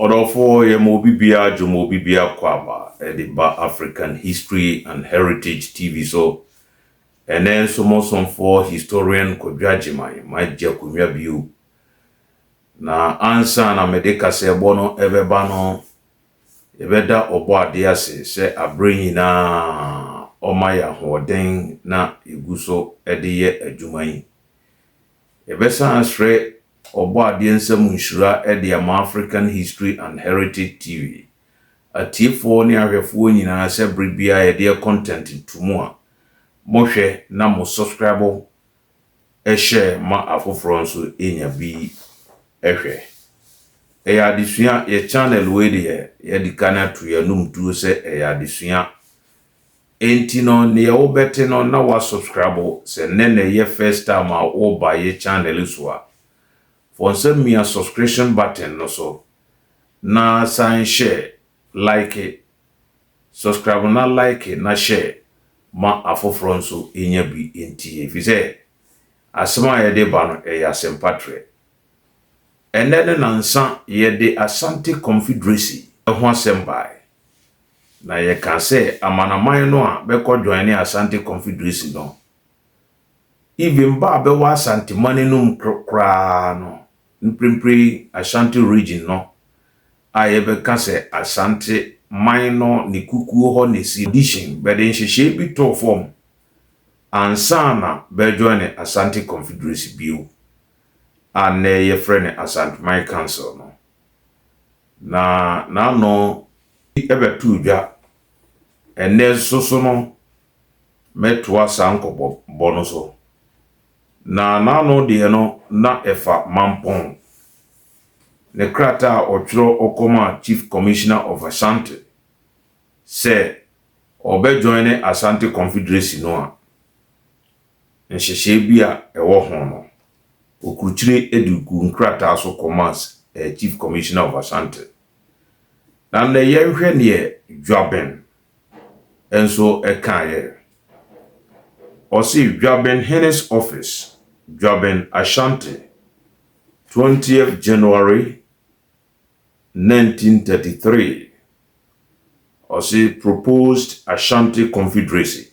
Ɔdɔfoɔ yɛ ma obi biara dwo ma obi biara kɔ aba de ba African History and Heritage TV so. Ɛnnɛ nso mo somfoɔ Historian Kwadwo Agyeman magye akonnwa bio. Na ansa na mede kaseɛbɔ no rebɛba no, yɛbɛda Ɔbɔadeɛ ase sɛ aberɛ nyinaa ɔma yɛ ahoɔden na yɛgu so de yɛ adwuma yi. Yɛbɛsan asrɛ Ɔbɔadeɛ nsa mu nhyira de ama African History and Heritage TV atiefoɔ ne ahwɛfoɔ nyinaa sɛ bere biara yɛde yɛ content to mu a, mohwɛ na mo subscribe share ma afoforɔ nso nya bi hwɛ. Ɛyɛ adesua, yɛ channel wei deɛ yɛadi kan ato yɛn anom tuo sɛ ɛyɛ adesua. Enti no neɛ wo bɛte no na wa subscribe sɛ nnɛ na ɛyɛ first time a wo ba yɛ channel yi so a fɔnsa mia subscription button no so na san hyɛ like subscribe na like na hyɛ ma afoforɔ nso nya bi ntie ɛfiri sɛ asɛm a yɛde ba no ɛyɛ asɛmpa trɛ ɛnnɛ ne nansa yɛde Asante Confederacy ho asɛm baɛ Na yɛka sɛ amanaman no a bɛkɔ joine Asante Confederacy no, even ba a bɛwɔ Asanteman no mu koraa no, mprempren Ashanti Region no a yɛbɛka sɛ Asante man no ne kukuo hɔ na ɛsi Addition, bɛde nhyehyɛe bi too fam ansa na bɛrejoine Asante Confederacy bio a nnɛ yɛfrɛ no Asanteman Council no. Na n'ano bɛtoo dwa. Ɛnnɛ nso so no, mɛtoa saa nkɔmmɔbɔ no so. Na n'ano deɛ no, na ɛfa Mampong. Ne krataa a ɔtwerɛ kɔmaa Chief Commissioner of Ashanti sɛ ɔbɛjoine Asante Confederacy no a, nhyehyɛe bi a ɛwɔ ho no, wokurukyire de guu nkrataa so kɔmaa Chief Commissioner of Ashanti. Na nnɛ yɛnhwɛ deɛ Dwaben nso kaeɛ. Ɔse Dwaben Hene's Office, Dwaben, Ashanti, twentieth January nineteen thirty three, ɔse proposed Ashanti Confederacy.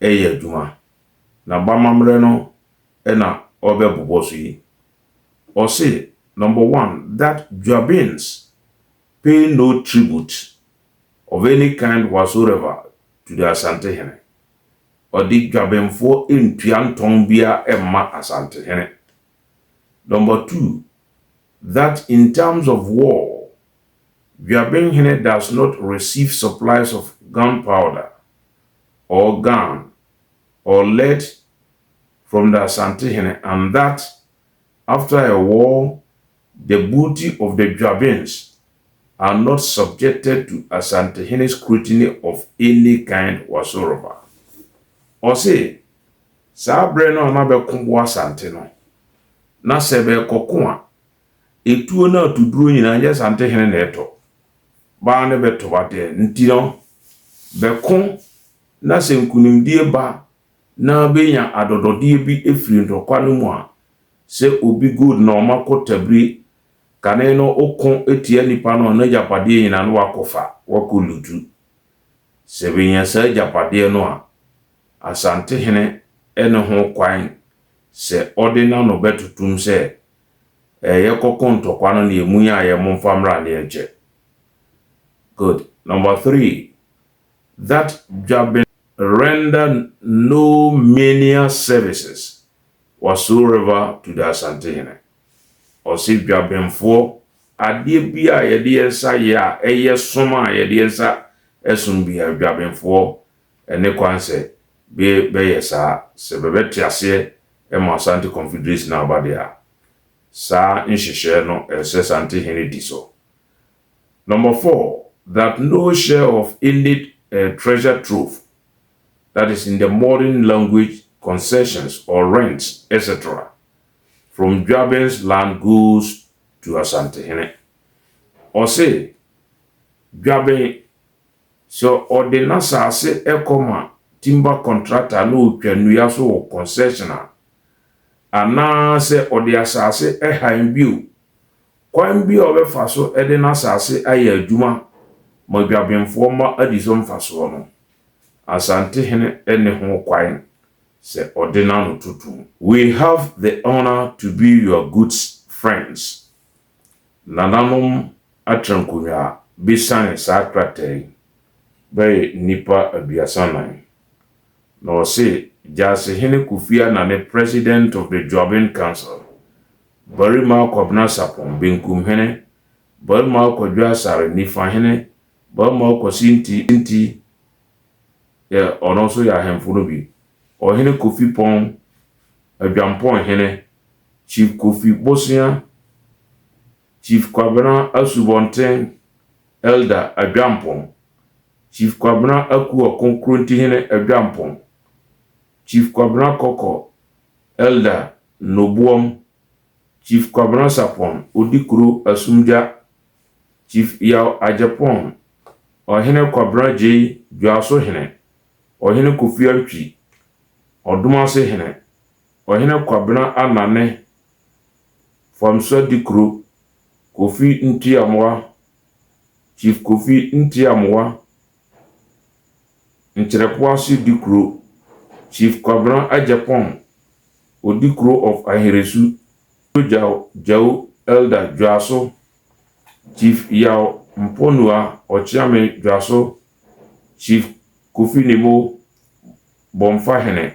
reyɛ adwuma, na bamammerɛ no na ɔrebɛbobɔ so yi. Ɔse, Number one, that Dwabins pay no tribute of any kind whatsoever to the Asantehene. Ɔde Dwabenfoɔ ntua ntɔn biara mma Asantehene. Number two, that in times of war, Dwabenhene does not receive supplies of gunpowder or gown or led from the Asantehene and that after a war the booty of the Dwabins are not subjected to Asantehene scrutiny of any kind whatsoever. Ɔse, saa berɛ no a na bɛko boa Asante no, na sɛ bɛrekɔko a, Etuo no atuduro nyinaa nyɛ Santehene na ɛtɔ, baa no bɛtɔ adeɛ. Nti no, bɛko na sɛ nkunimdie ba na bɛnya adɔdɔdeɛ bi firi ntɔkwa no mu a, sɛ obi gold na ɔma kɔ Tabire, kane no ɔko tia nipa no a, n'agyapadeɛ nyinaa na wakɔfa, wakɔ lutu. Sɛ bɛnya saa agyapadeɛ no a, Asantehene ne ho kwan sɛ ɔde n'ano bɛtotom sɛ Eh yɛkɔ ko ntɔkwa no neɛ mu yɛ ayɛ momfa mmra ne ɛnkyɛ good number three that dwaben render no menial services whatsoever to the Asantehene ɔse dwabenfoɔ adeɛ bi a yɛde yɛn nsa yɛ a ɛyɛ som a yɛde yɛn nsa som biara dwabenfoɔ Ɛne kwan sɛ be bɛyɛ saa, sɛ bɛbɛ te aseɛ ma Asante Confederation no aba deɛ a, saa nhyehyɛɛ no ɛsɛ Asante hene di so. Number four, that no share of any treasure trove, that is in the modern language concessions or rents etc, from Dwabɛns land goes to Asante hene. Ɔse Dwabɛn. Sɛ ɔde n'asase kɔma timber contractor na ɔtwa nnua so wɔ concession a, anaa sɛ ɔde asase hann bi o, kwan biara a ɔbɛfa so de n'asase ayɛ adwuma ma dwabenfoɔ ma adi so mfasoɔ no, Asantehene nne ho kwan sɛ ɔde n'ano to tum. We have the honour to be your goods friends, Nananom atrankonnwa a besiane saa krataa yi bɛyɛ nnipa aduasa nan. Na wɔse Gyasehene Kofi Anane President of the Juaben Council, Barima Kwabena Sarpong, Benkum Hene, Barima Kwadwo Asare, Nifa Hene, Barima Kwasi Nti, Nti, yɛ ɔno nso yɛ ahemfo no bi, Ɔhene Kofi Pong, Adwampong Hene, Chief Kofi Bosea, Chief Kwabena Asubɔnten, Elder Adwampong, Chief Kwabena Akua Konkrontihene Adwampong, Chief Kwabena Kɔkɔ, Elder Noboam, Chief Kwabena Sapon, Odikuro Asumgya, Chief Yaw Agyepong, Ɔhene Kwabena Agyei, Dwaso Hene, Ɔhene Kofi Antwi, Ɔdomase Hene, Ɔhene Kwabena Anane, Famsa Dikuro, Kofi Ntiamoa, Chief Kofi Ntiamoa, Nkyerɛpoase Dikuro, Chief Kwabena Agyapong, Odikuro of Aheresu, Dwogyaw Gyau Elder Dwaso, Chief Yaw Mponua Ɔkyeame Dwaso, Chief Kofi Nimo, Bomfahene,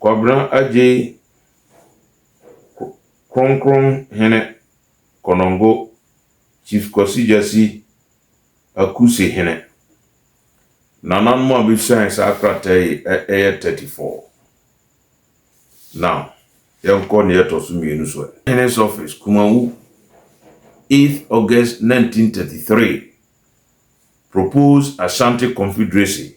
Kwabena Agyei Kronkron Hene Konongo Chief Kwasi Gyasi Akusi Hene. Nananom a besian saa krataa yi yɛ thirty four. Now yɛnkɔ nea ɛtɔ so mmienu so ɛ. Hene's Office, Kumawu, eighth August nineteen thirty three, Proposed Ashanti Confederacy,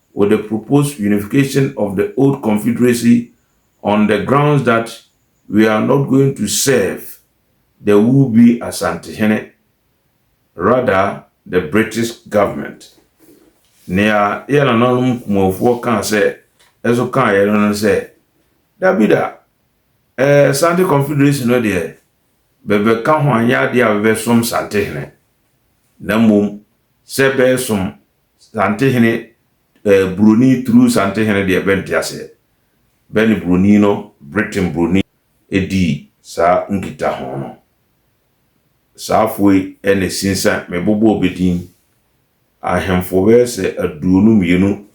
with the proposed unification of the old confederacy on the grounds that we are not going to serve the will be Asantehene rather the British government. Nea yɛ nananom Kumafoɔ kaa sɛ ɛso kaa yɛ no no sɛ dabida ɛɛ eh, Sante confederation no deɛ bɛbɛka ho anyɛ adeɛ a bɛbɛsom Santehene na mmom sɛ bɛɛsom Santehene eh, buroni through Santehene deɛ bɛ nte aseɛ. Bɛ ne buroni no, Britain buroni dii saa nkita ho no. Saa foɔ yi na ɛsinsan, me bobɔɔ bɛ din. Ahemfoɔ bɛyɛ sɛ aduonu mmienu,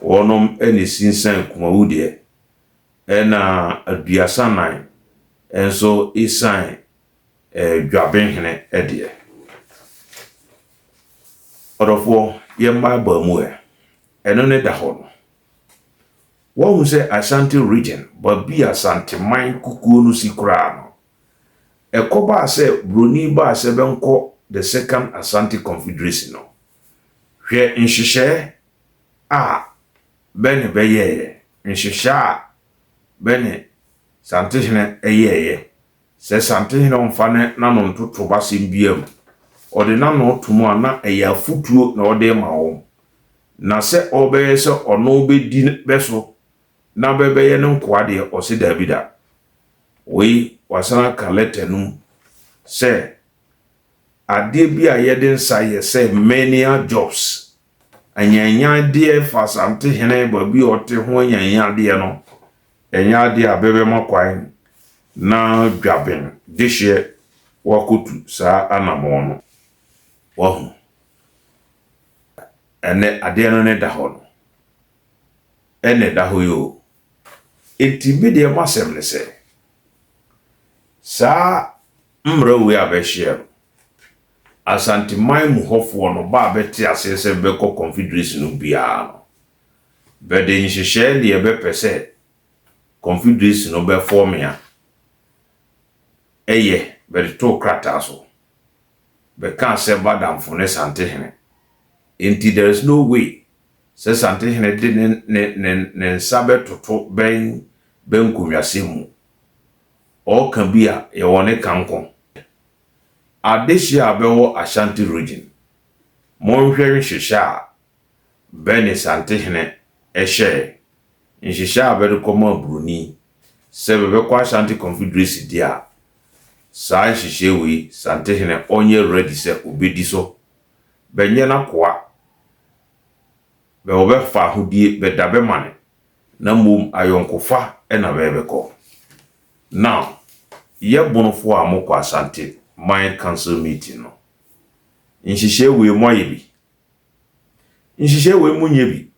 wɔnom na ɛsinsan Kumawu deɛ. Ɛna aduasa nnan nso ɛsiane Dwabenhene deɛ. Ɔdɔfoɔ, yɛn baabaa mu ɛ, ɛno ne da hɔ no. Woahu sɛ Ashanti Region, baabi a Santeman kukuo no si koraa no, ɛkɔbaa sɛ Buroni baa sɛ bɛnkɔ the Second Asante Confederacy no, hwɛ nhyehyɛɛ a bɛne bɛyɛeɛ, nhyehyɛɛ a bɛne Santehene yɛeɛ Sɛ Santehene ɔmfa ne n'ano nto tob asɛm biara mu, ɔde n'ano to mu a na ɛyɛ afotuo na ɔde rema wɔn. Na sɛ ɔrebɛyɛ sɛ ɔno bɛdi bɛ so na bɛ bɛyɛ ne nkoa deɛ, ɔse daabi da. Wei wasan aka lɛta no mu sɛ, Adeɛ bi a yɛde nsa yɛ sɛ menial jobs Anyanyadeɛ fa Asante hene baabi a ɔte ho anyanyadeɛ no ɛnyɛ adeɛ a bɛbɛma kwan na Dwaben dehyeɛ wakɔtu saa anammɔn no. Wahu? Ɛnnɛ adeɛ no ne da hɔ no. Ɛnna ɛda hɔ yi o. Enti me deɛ m'asɛm ne sɛ, saa mmara wei a bɛhyeɛ no, Asanteman mu hɔfoɔ no ba a bɛte aseɛ sɛ bɛkɔ Confederation no biara no, bɛde nhyehyɛɛ deɛ bɛpɛ sɛ Confederation no bɛfɔɔme a ɛyɛ bɛde too krataa so. Bɛkaa sɛ Badamfo ne Santehene. Enti there is no way sɛ Santehene de ne ne ne ne nsa bɛtoto bɛn bɛn nkonwasɛm mu. Ɔɔka bi a yɛwɔ ne ka nko. Adehye a bɛwɔ Ashanti Region, monhwɛ nhyehyɛ a bɛ ne Santehene hyɛe, nhyehyɛ a bɛde kɔmaa Buroni sɛ bɛbɛkɔ Ashanti Confederacy di a, saa nhyehyɛe wei Santehene ɔnyɛ ready sɛ obedi so, bɛnyɛ n'akoa, bɛ wɔbɛfa ahodie bɛda bɛ mane Na mmom ayɔnkofa na mɛrebɛkɔ. Now, yɛ Bonofoɔ a mokɔ Asante man council meeting no, nhyehyɛɛ wei moayɛ bi? Nhyehyɛɛ wei monyɛ bi?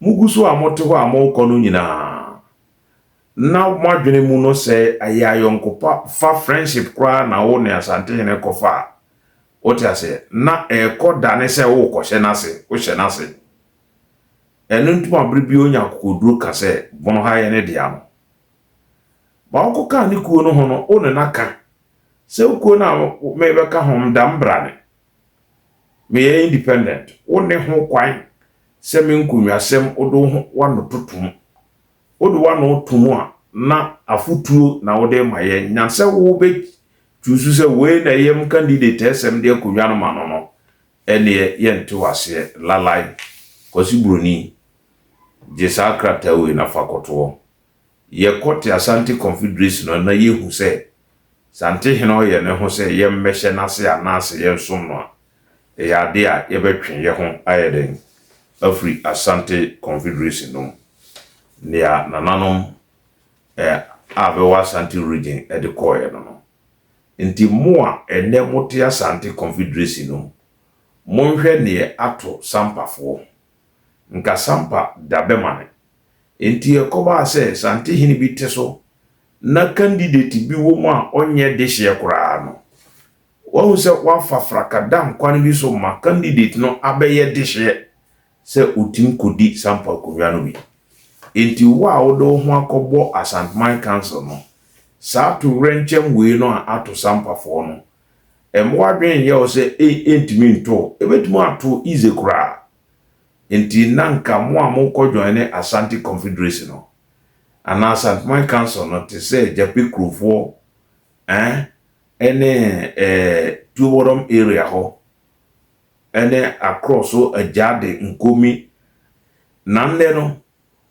Mogu so a mote hɔ a morekɔ no nyinaa, na moadwene mu no sɛ ɛyɛ ayɔnkopa fa friendship koraa na wo ne Asantehene kɔfa a, wote aseɛ, na ɛrekɔ dane sɛ worekɔhyɛ n'ase, wohyɛ n'ase. Ɛno nti ma bere biara onya akokoduru ka sɛ, Bon ha yɛ ne dea no. Ma ɔnkɔka ne kuo no ho no, wo ne no aka sɛ, Wo kuo no a merebɛka ho, meda me bra ne. Meyɛ independent. Wonni ho kwan sɛ me nkonnwasɛm wode wo ho w'ano toto mu. Wode w'ano to mu a, na afotuo na wode rema yɛn, nyan sɛ wobɛchuusu sɛ wei na ɛyam candidate a ɛsɛ mede akonnwa no ma no no, Ɛndeɛ yɛnte wo aseɛ lalai Kwasi Buroni gye saa krataa wei na fa kɔtoɔ. Yɛkɔ te Asante Confederation no na yɛhu sɛ Sante hene ɔyɛ ne ho sɛ yɛmmɛhyɛ n'ase anaase yɛnsom no a, ɛyɛ adeɛ a yɛbɛtwe yɛ ho ayɛ dɛn afiri Asante Confederation no mu. Nea nananom a bɛwɔ Asante Region de kɔeɛ no no, Nti mo a ɛnnɛ mote Asante Confederacy no, monhwɛ neɛ ato Sampafoɔ. Nka Sampa da bɛmane. Nti ɛkɔbaa sɛ Santehene bi te so na candidate bi wɔ mu a ɔnyɛ dehyeɛ koraa no, wahu sɛ wafa fraka da nkwan bi so ma candidate no abɛyɛ dehyeɛ sɛ wotumi kodi saa mpo akonnwa no bi. Enti wo a wode wo ho akɔbɔ Asanteman Council no, saa towerɛnkyɛm wei no a ato Sampafoɔ no, mma w'adwene nnyɛ wo sɛ ɛntumi nto wo. Ɛbɛtumi ato wo easy koraa. Enti na anka mo a mokɔ joine Asante Confederacy no, anaa Asanteman Council no te sɛ Gyapɛ kurofoɔ eh, ɛne eh, Tuobɔdɔm area hɔ. ne akorɔ so agyaade nkomi, na nnɛ no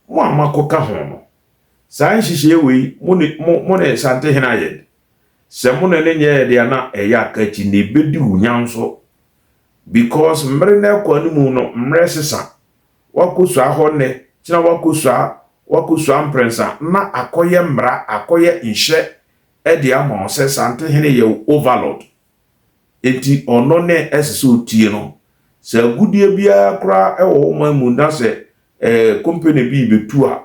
mo a moakɔka ho no, saa nhyehyɛeɛ wei mo ne, mo, mo ne Sante hene ayɛ de, sɛ mo ne no nyɛɛ deɛ a na ɛyɛ aka akyi, na ɛbɛdi wo nya nso, because mmere no ɛkɔ anim no, mmerɛ sesa, woakɔsua hɔ nnɛ, kyena woakɔsua, woakɔsua mprɛnsa, na akɔyɛ mmara, akɔyɛ nhyɛ de ama wo sɛ Sante hene yɛ wo overlord. Enti ɔno ne ɛsɛ sɛ otie no. Sɛ agudeɛ biara koraa wɔ wo man mu na sɛ kompene bi rebɛtu a,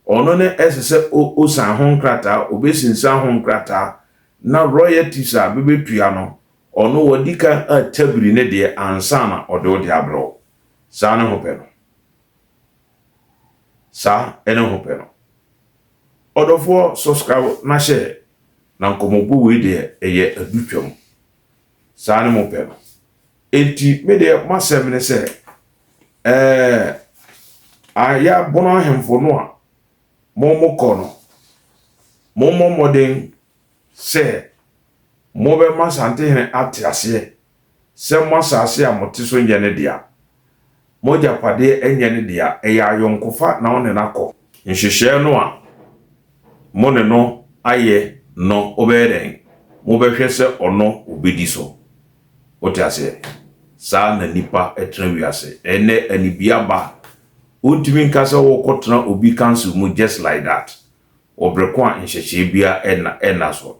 ɔno ne ɛsɛ sɛ ɔsan ho nkrataa, ɔbɛsinsan ho nkrataa, na royalties a bɛbɛtua no, ɔno wadi kan atabiri ne deɛ ansa na ɔde wo deɛ abrɛ wo. Saa ne ho pɛ no. Saa ne ho pɛ no. Ɔdɔfoɔ subscribe na hyɛ na nkɔmɔbɔ wei deɛ ɛyɛ adu twam saa ne mo pɛ no enti me deɛ masɛm ne sɛ ɛɛ ayɛ abono ahemfo no a mo mo kɔ no mo mmɔ mmɔden sɛ mobɛma santehene ate aseɛ sɛ mo asase a mote so nyɛ ne dea, mo agyapadeɛ nyɛ ne dea, ɛyɛ ayɔnkofa na ɔne no akɔ. Nhyehyɛɛ no a mo ne no ayɛ no wobɛyɛ dɛn? Mobɛhwɛ sɛ ɔno ɔbɛdi so. Wote aseɛ? Saa na nnipa tena wiase. Ɛnnɛ anibea ba a, wontumi nka sɛ worekɔtena obi council mu just like that, wɔ berɛ ko a nhyehyɛɛ biara nna so.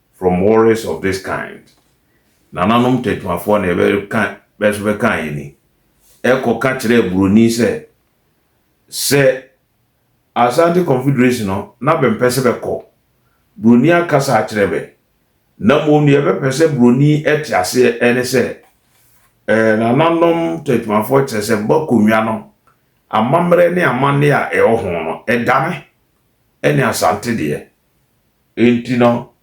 from worries of this kind. Nananom tatuafoɔ na yɛbɛka bɛso bɛka yɛn ni. Ɛkɔ ka kyerɛɛ buroni sɛ, sɛ Asante Confederation no na bɛmpɛ sɛ bɛkɔ. Buroni aka saa akyerɛ bɛ. Na mmom deɛ yɛbɛpɛ sɛ buroni te aseɛ ɛne sɛ, eh, nananom tatuafoɔ kyerɛ sɛ bɔ akonnwa no amammerɛ ne amanneɛ a ɛwɔ ho no ɛdame ɛne Asante deɛ. Enti no,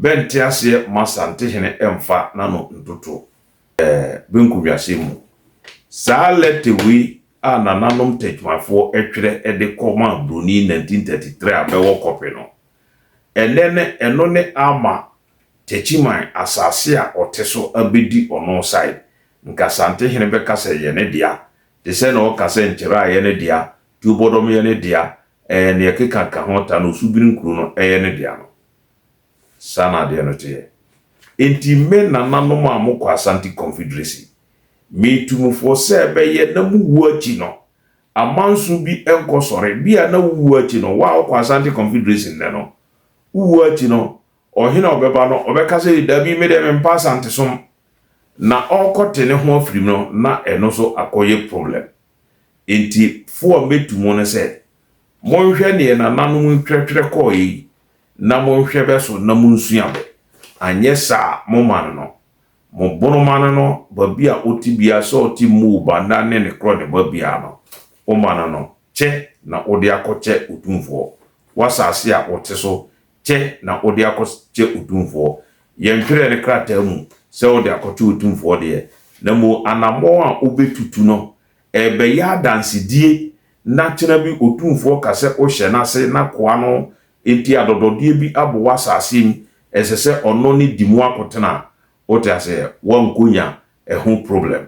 bɛnte aseɛ mma Santehene mfa n'ano ntoto eh, benku wiasɛm mu. Saa lɛtɛ wei a nananom Tɛkymafoɔ twerɛ de kɔ maa Buroni 1933 a bɛwɔ kɔpe no, ɛnnɛ no ɛno ne ama Tɛkyiman asase a ɔte so abɛdi ɔno sae. Nka Santehene bɛka sɛ ɛyɛ ne dea, te sɛ nea ɔka sɛ nkyerɛaeɛ no dea, Tio bɔdɔm yɛ ne dea ɛɛ neɛ keka ka ho ta no osu biri nkuro no ɛyɛ ne dea no saa na adeɛ no teɛ enti me nana nom a mo kɔ Asante Confederacy me tu mo foɔ sɛ ɛbɛyɛ na mo wuo akyi no amanso bi nkɔ sɔre bia na wo wuo akyi no wo a wo kɔ Asante Confederacy nnɛ no wo wuo akyi no ɔhene a ɔbɛba no ɔbɛka sɛ dabi me deɛ me mpa Asantesom na ɔkɔ te ne ho afirim no na ɛno nso akɔ yɛ problem Enti fo a metu mo no sɛ, Monhwɛ deɛ nananom ntwɛtwerɛ kɔɔɛ yi, na monhwɛ bɛ so na monsua bɛ, anyɛ saa a mo mane no, mo bono mane no, baabi a ote biara sɛ ɔte mmoo ba nna ne ne korɔ ne ba biara no, wo mane no, kyɛ na wode akɔkyɛ Otumfoɔ, w'asaase a wote so, kyɛ na wode akɔkyɛ otumfoɔ. Yɛntwerɛɛ no krataa mu sɛ wode akɔkyɛ otumfoɔ deɛ, na mmom anammɔn a wobɛtutu no, ɛrebɛyɛ adansedie na kyena bi otumfoɔ ka sɛ wohyɛ no ase na koa no nti adɔdɔdeɛ bi abɔ w'asase mu, ɛsɛ sɛ ɔno ne di mu akɔtena. Wote aseɛ? Woankɔnya ɛho problem.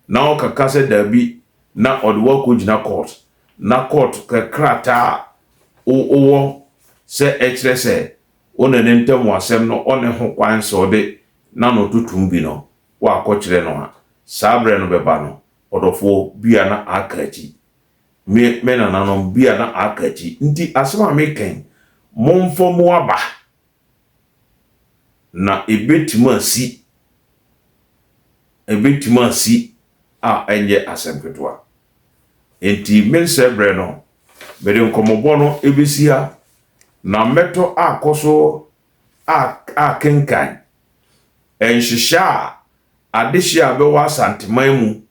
na ɔka ka sɛ daabi na ɔde wo akɔgyina kɔɔt na kɔɔt pɛ krataa a wowɔ sɛ ɛkyerɛ sɛ wo ne ne ntam asɛm no ɔne ho kwan sɛ ɔde n'ano to tom bi no woakɔkyerɛ no a, saa berɛ no bɛba no, ɔdɔfoɔ, bi a na aka akyi. Me, me nananom, bi a na aka akyi. Nti asɛm a meka yi, momfa mu aba Na ebetumi asi, ebetumi asi a ɛnyɛ asɛm ketewa. Enti me nsɛbrɛ no, mede nkɔmmɔbɔ no besi ha, na mɛtɔ akɔ so a akenkan nhyehyɛe a adehye a ɛbɛwɔ Asanteman mu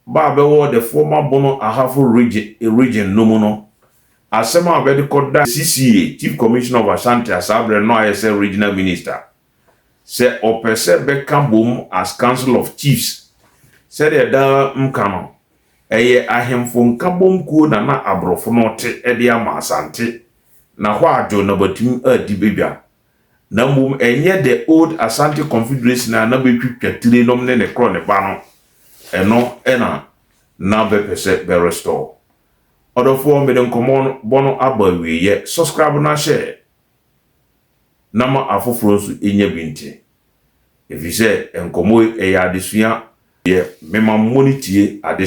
Ba a bɛwɔ the former Bono Ahafo Region no mu no, asɛm a bɛde kɔdaa CCA, Chief Commissioner of Ashanti a saa berɛ no ayɛ sɛ Regional Minister, sɛ ɔpɛ sɛ bɛka bom as Council of Chiefs. Sɛdeɛ daa mka no, ɛyɛ Ahemfo Nkabom Kuo na na Abrofo no te de ama Asante, na hɔ a John Nabatim adi badwa. na mmom ɛnyɛ The Old Asante Confederation a na bɛtwitwa tire nom ne ne korɔ ne ba no, ɛno na na bɛpɛ sɛ bɛ restore. Ɔdɔfoɔ mede nkɔmmɔ no bɔ no aba awieɛ, subscribe na share na ma afoforɔ nso ɛnya bi nte. Ɛfiri sɛ nkɔmmɔ yi ɛyɛ adesua. Deɛ mema mo ne tie adesua.